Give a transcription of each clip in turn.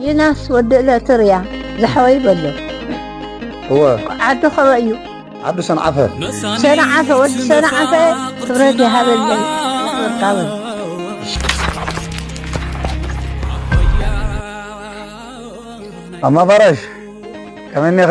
ዪናስ ወዲ እለትርያ ዝሓወይ በሎ እወ ዓዱ ከበይ እዩ ዓዱ ሰንዓፈ። ሰንዓፈ ወዲ ሰንዓፈ ክብረት ይሃበለይ ኣኽብርካውን። ማማ ባራሽ ከመይ እኒኺ?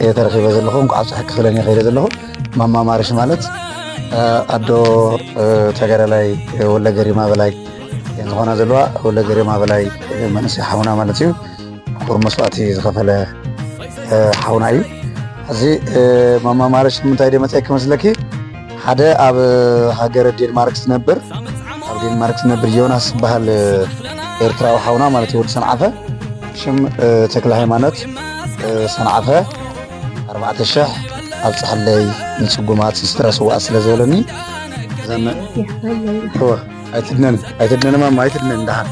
እየ ተረኺበ ዘለኹ እንኳዕ ኣብፀሐኪ ክብለን እየ ከይደ ዘለኹ ማማ ማርሽ ማለት ኣዶ ተጋዳላይ ወለ ገሪማ በላይ ዝኾና ዘለዋ ወለ ገሪማ በላይ መንእሰይ ሓውና ማለት እዩ ኩር መስዋእቲ ዝኸፈለ ሓውና እዩ እዚ ማማ ማርሽ ንምንታይ ደ መፀኪ መስለኪ ሓደ ኣብ ሃገረ ዴንማርክ ዝነብር ኣብ ዴንማርክ ዝነብር ዮናስ ዝበሃል ኤርትራዊ ሓውና ማለት እዩ ወዲ ሰንዓፈ ሽም ተክለ ሃይማኖት ሰንዓፈ ኣርባዕተ ሽሕ ኣብ ፀሓለይ ንፅጉማት ስድራ ስዋኣ ስለ ዝበለኒ ኣይትድነን ኣይትድነን ማማ ኣይትድነን ደሓን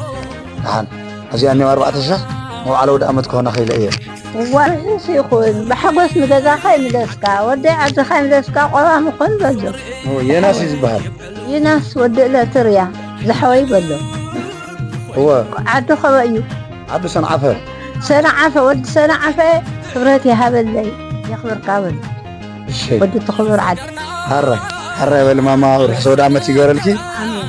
ደሓን ኣብዚኣ እኒኦ ኣርባዕተ ሽሕ መውዓለ ወደ ኣመት ክኾና ክኢለ እየ እዋይ ርሑስ ይኹን ብሓጎስ ንገዛኻ ይምለስካ ወደይ ዓድኻ ይምለስካ ቆራም ኹን በሎ የናስ እዩ ዝበሃል ይናስ ወዲ እለቲ ርያ ዝሓወይ በሎ እወ ዓዱ ከበ እዩ ዓዱ ሰንዓፈ ሰንዓፈ ወዲ ሰንዓፈ ክብረት ይሃበለይ የኽብርካ በሎ እሸይ ወዲ እቲ ክቡር ዓዲ ሓራ ሓራ ይበል ማማ ርሑስ ወደ ዓመት ይገበረልኪ ኣሜን